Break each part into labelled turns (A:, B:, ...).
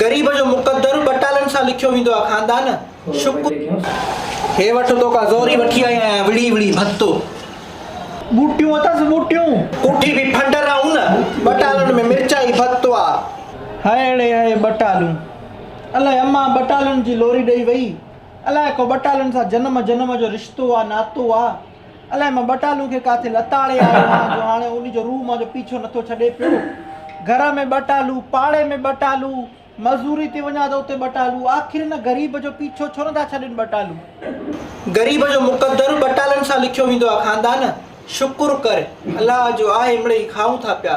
A: غريب جو
B: مقدر ٻٽالن سان لکيو ويندو آ خاندان شڪر. هي وٺ توکان زوري وٺي آئي آهيان وڙهي وڙهي ڀتو. ٻوٽيون اٿس ٻوٽيون. ڪوٺي ڀي ڦنڊر آ ان. ٻٽالن ۾ مرچائي ڀتو آ. هائڙي هي ٻٽالون. الائي امان ٻٽالن جي لوري ڏئي وئي. الائي ڪو ٻٽالن سان جنم جنم جو رشتو آ ناتو آ. الائي مان ٻٽالو کي ڪاٿي لتاڙي آيو آهيان جو هاڻي ان جو روح مان جو پيڇو نٿو ڇڏي پيو. گهر ۾ ٻٽالو، پاڙي ۾ ٻٽالو، مزوري تي وڃان ته اتي ٻٽالو، آخر ان غريب جو پيڇو ڇو نٿا ڇڏين ٻٽالو. غريب جو مقدر ٻٽالن سان لکيو ويندو آهي خاندان شڪر ڪر الله جو آهي مڙئي کائون ٿا پيا.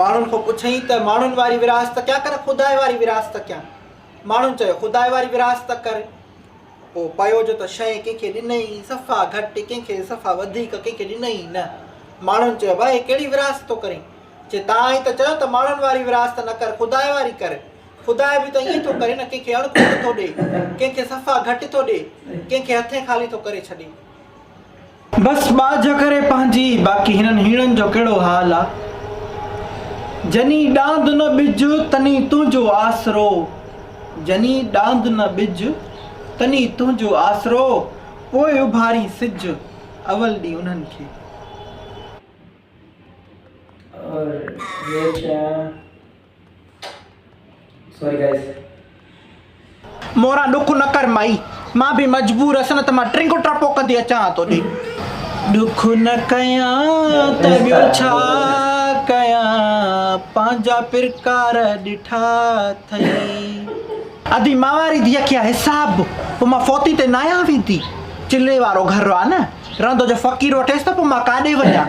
B: ماڻهن کان پڇيائين ته ماڻهن واري ورهاست ڪيا ڪنه خداء واري ورهاست ڪيا؟ ماڻهن چيو خداء واري ورهاست ڪر. پوء پيو جو ته شيء ڪنهن کي ڏنئي صفا گهٽ، ڪنهن کي صفا وڌيڪ، ڪنهن کي ڏنئي ئي نه. ماڻهن چيو ابا هي ڪهڙي ورهاست ٿو ڪرين؟ چي توهان ئي ته چيو ته ماڻهن واري ورهاست نه ڪر، خداء واري ڪر. خدا به ته ائين ٿو ڪري نه، ڪنهن کي اڻ کوٽ ٿو ڏئي، ڪنهن کي صفا گهٽ ٿو ڏئي، ڪنهن کي هٿين خالي ٿو ڪري ڇڏي. بس ٻاجهه ڪري پنهنجي باقي هنن هيڻن جو ڪهڙو حال آ جني ڏاند نه ٻج تني تنهنجو آسرو جني ڏاند نه ٻج تني تنهنجو آسرو پوء اڀارين سج اول ڏينهن انهن کي. اور ٻيو ڇا. سوري گائيز مورا ڏک نه ڪر مائي مان به مجبور هس نه ته مان ٽرنگو ٽرپو ڪندي اچان ها توڏي ڏک نه ڪيان ته ٻيو ڇا ڪيان پنهنجا پرڪار ڏٺا اٿئي ادي مان واري ڌيء کي حساب پوء مان فوتي تي ناهيان ويندي چلي وارو گهر آ نه رهندو جو فقير وٺيس ته پوء مان ڪاڏي وڃان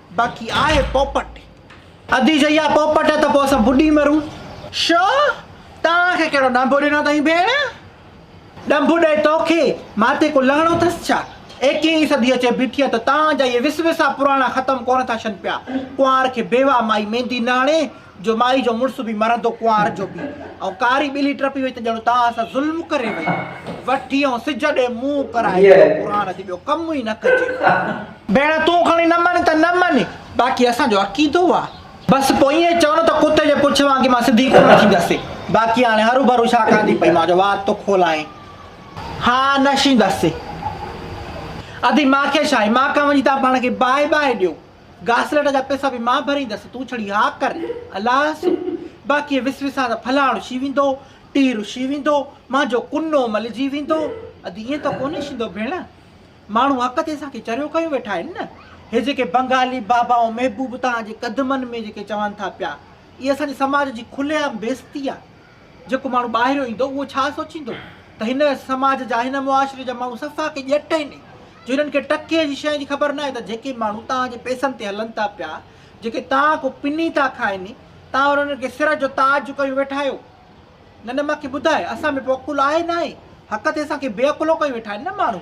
B: باقي آء پوپٽ. ادي جيئا پوپٽ ته پوء اسان ٻڏي مرون. شو؟ توهان کي ڪهڙو ڏنڀ ڏنو اٿئي ڀيڻ؟ ڏنڀ ڏئي توکي؟ مان تي ڪو لهڻو اٿس ڇا؟ ايڪيهين صدي اچي بيٺي آهي ته توهان جا اهي وس وسا پراڻا ختم ڪونه ٿا ڇن پيا. ڪنوار کي بيواهه مائي ميندي نه هڻي جو مائي جو مڙس به مرندو ڪنوار جو پيء ۽ ڪاري ٻلي ٽپي وئي ته ڄڻ توهان سان ظلم ڪري وئي وٺي ۽ سج ڏي منهن ڪرائي ڇڏيو قرآن جي ٻيو ڪم ئي نه ڪجي. ڀيڻ تون کڻي نه مڃ ته نه مڃ باقي اسان جو عقيدو آ بس پوء ائين چئو نه ته ڪتي جي پڇ وانگي مان سڌي ڪونه ٿيندس باقي هاڻي هروڀرو ڇا ڪندي پئي مان جو وات ٿو کولائين ها نه شيندس ادي مان کي ڇا آهي مان کان وڃي تان پاڻ کي باهه باهه ڏيو. گاسليٽ جا پئسا به مان ڀريندس، تون ڇڙي ها ڪر، الله سو. باقي وس وسان ته ڦلاڻ رشي ويندو، ٽيهه رشي ويندو، مانجو ڪنو ملجي ويندو. ادي ائين ته ڪونهي شيندو ڀيڻ، ماڻهو حق تي اسان کي چريو ڪيون ويٺا آهن نه، هي جيڪي بنگالي بابائون محبوب توهان جي قدمن ۾ جيڪي چون ٿا پيا، اهي اسان جي سماج جي کلي عام بيعزتي آهي. جيڪو ماڻهو ٻاهريون ايندو اهو ڇا سوچيندو ته هن سماج جا هن معاشري جا ماڻهو صفا ڪي ڄٽ آهن جو هنن کي ٽڪي جي شيء جي خبر ناهي ته جيڪي ماڻهو توهان جي پئسن تي هلن ٿا پيا جيڪي توهان کون پني ٿا کائن توهان انهن کي سر جو تاج ڪيو ويٺا آهيو نه نه مان کي ٻڌاء اسان ۾ ڪو عقل آهي ناهي حق تي اسان کي بي عقلو ڪيو ويٺا آهن نه ماڻهو.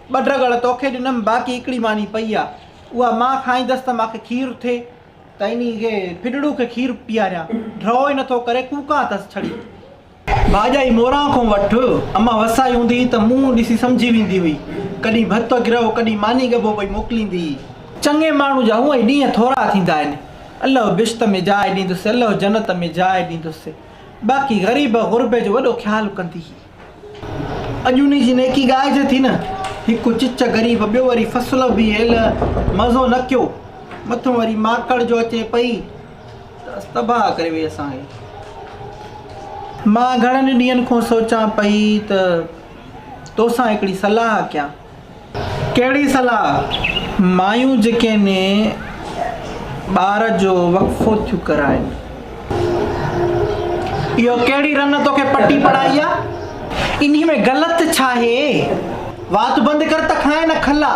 B: ٻه ڊڳڙ توکي ڏنم باقي هڪڙي ماني پئي آ اها مان کائيندس ته مانکي کير ٿئي ته انهي کي ڦڏڙو کي کير پياريان ڍؤ ئي نٿو ڪري ڪوڪان اٿس ڇڙي ڀاڄائي موران کون وٺ امان وسائي هوندي ته منهن ڏسي سمجهي ويندي هئي ڪڏهن ڀت گرهو ڪڏهن ماني ڳڀو پئي موڪليندي هئي. چڱي ماڻهو جا هونئن ئي ڏينهن ٿورا ٿيندا آهن الله بهشت ۾ جاء ڏيندس الله جنت ۾ جاء ڏيندس باقي غريب غربي جو وڏو خيال ڪندي هئي. اڄ انهي جي نيڪي ڳائجي ٿي نه، هڪ چچ غريب ٻيو وري فصل به هيل مزو نه ڪيو، مٿو وري ماڪڙ جو اچي پئي ته تباهه ڪري وئي اسان کي. مان گهڻن ئي ڏينهن کون سوچان پئي ته توسان هڪڙي صلاح ڪيان. ڪهڙي صلاح؟ مايون جيڪي ني ٻار جو وقفو ٿيون ڪرائين. اهو ڪهڙي رن توکي پٽي پڙهائي آ؟ انهي ۾ غلط ڇاهي؟ وات بند ڪر ته کانئن نه کلا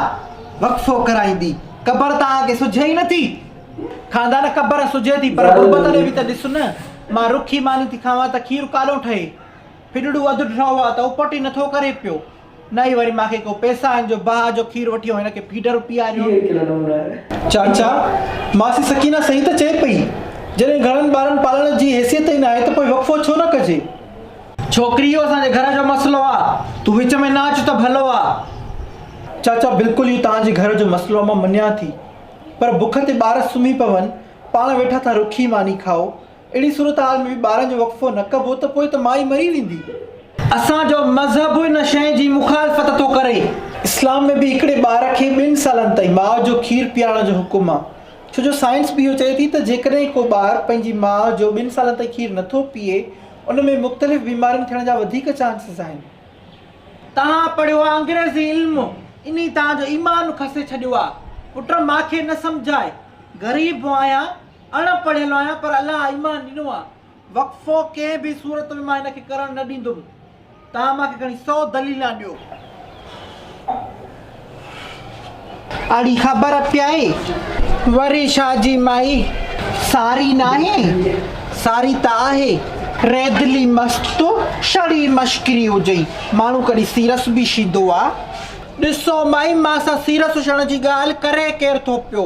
B: وقفو ڪرائيندي. قبر توهان کي سجهي ئي نٿي. خاندان قبر سجهي ٿي پر غربت ڏي به ته ڏس نه. مان رکي ماني ٿي کاوان ته کير ڪالو ٺهي. ڦڏڙو اڌ ڍرو آ ته اپٽ ئي نٿو ڪري پيو. نه ئي وري ماکي ڪو پئسا آهن جو باهه جو کير وٺي ۽ هن کي فيڊر پياريون. چاچا، ماسي سڪينه صحيح ته چئي پئي، جڏهن گهڻن ٻارن پالڻ جي حيثيت ئي ناهي ته پوء وقفو ڇو نه ڪجي. ڇوڪري اهو اسان جي گهر جو مسئلو آ، تون وچ ۾ نه اچ ته ڀلو آ. چاچا، بلڪل اهو توهان جي گهر جو مسئلو آ مان مڃان ٿي، پر بک تي ٻار سمهي پون، پاڻ ويٺا ٿا رکي ماني کائو، اهڙي صورتحال ۾ به ٻارن جو وقفو نه ڪبو ته پوء ته مائي مري ويندي. اسان جو مذهب ان شيء جي مخالفت ٿو ڪري. اسلام ۾ به هڪڙي ٻار کي ٻن سالن تائين ماء جو کير پيارڻ جو حڪم آ. ڇو جو سائنس به اهو چئي ٿي ته جيڪڏهن ڪو ٻار پنهنجي ماء جو ٻن سالن تائين کير نه ٿو پيئي ان ۾ مختلف بيمارين ٿيڻ جا وڌيڪ چانسز آهن. تهان پڙهيو آ انگريزي علم انهي تهان جو ايمان کسي ڇڏيو آ پٽ ماکي نه سمجهاء غريب آهيان. اڻ پڙهيل آهيان پر الله ايمان ڏنو آ وقفو ڪنهن به صورت ۾ مان هن کي ڪرڻ نه ڏيندم توهان مان کي کڻي سو دليلان ڏيو. اڙي خبر پيائي وري شاهه جي مائي ساري ناهي ساري ته آهي. ريدلي مست تو شڙي مشڪري هجئي ماڻهو ڪڏهن سيرس به شيدو آ ڏسو مائي مان سان سيرس شڻ جي ڳالهه ڪري ڪير ٿو پيو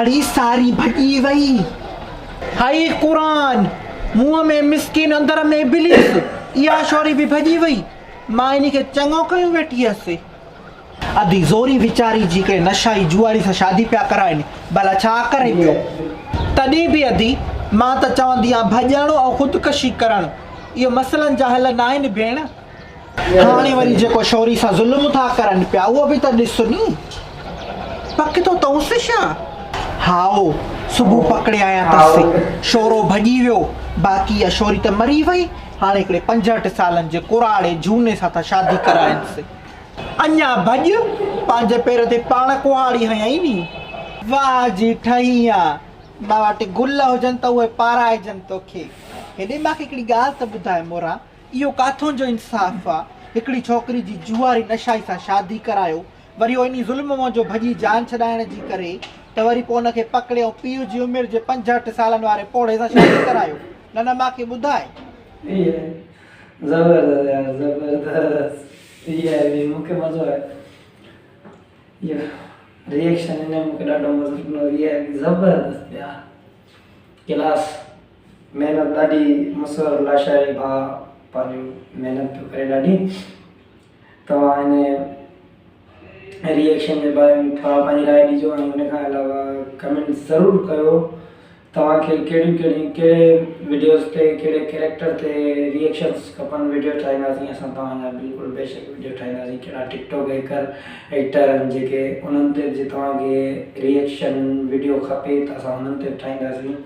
B: اڙي ساري ڀڄي وئي. هائي قرآن منهن ۾ مسڪين اندر ۾ ابليس اها شوري به ڀڄي وئي مان انهي کي چڱو ڪيو ويٺي هيس. ادي زوري ويچاري جي ڪنهن نشائي جوئاري سان شادي پيا ڪرائين ڀلا ڇا ڪري ٻيو تڏهن به ادي مان ته چوندي آهيان ڀڄڻ ۽ خودڪشي ڪرڻ اهي مسئلن جا حل ناهن ڀيڻ. هاڻي وري جيڪو شوري سان ظلم ٿا ڪرن پيا اهو به ته ڏس ني. پڪ ٿو تئونس ڇا؟ هائو، صبح پڪڙيايان تس. شورو ڀڄي ويو. باقي اها شوري ته مري وئي. هاڻي هڪڙي پنجهٺ سالن جي ڪراڙي جهوني سان ٿا شادي ڪرائينس. اڃا ڀڄ، پنهنجي پير تي پاڻ ڪهاڙي هنيائين ني. واهه جي ٺهينء، مان وٽ گل هجن ته اهي پارائجن توکي. هيڏي مان کي هڪڙي ڳالهه ته ٻڌاء مورا! اهو ڪاٿون جو انصاف آ. هڪڙي ڇوڪري جي جوئاري نشائي سان شادي ڪرايو وري انهي ظلم منجهو ڀڄي جان ڇڏائڻ جي ڪري ته وري پوء ان کي پڪڙي ۽ پيء جي عمر جي پنجهٺ سالن واري پوڙهي سان شادي ڪرايو نه نه مان کي ٻڌاء. زبردست يار
A: زبردست اهي وي مون کي مزو آيو اهو ريئڪشن هن مون کي ڏاڍو مزو ڏنو وي آء پي زبردست يار ڪلاس. محنت ڏاڍي مصور لاشاري ڀاء پنهنجو محنت پيو ڪري ڏاڍي توهان هن ريئيڪشن جي باري ۾ ٿورا پنهنجي راء ڏجو ۽ ان کان علاوه ڪمينٽ ضرور ڪيو توهان کي ڪهڙيون ڪهڙيون ڪهڙي وڊيوز تي ڪهڙي ڪيريڪٽر تي ريئيڪشنس کپن وڊيو ٺاهينداسين اسان توهان جا بلڪل بيشڪ وڊيو ٺاهينداسين ڪهڙا ٽڪ ٽاڪ هيڪر ايڪٽر آهن جيڪي انهن تي به جي توهان کي ريئيڪشن وڊيو کپي ته اسان انهن تي به ٺاهينداسين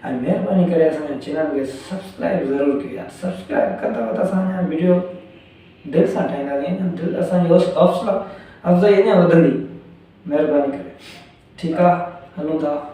A: ۽ مھرباني ڪري اسان جي چينل کي سبسڪرائب ضرور ڪريو يار سبسڪرائب ڪندؤ ته اسان اڃان وڊيو دل سان ٺاھينداسين اڃان دل اسان جي حوصلا افزائي اڃان وڌندي مھرباني ڪري ٺيڪ آ ھلون ٿا.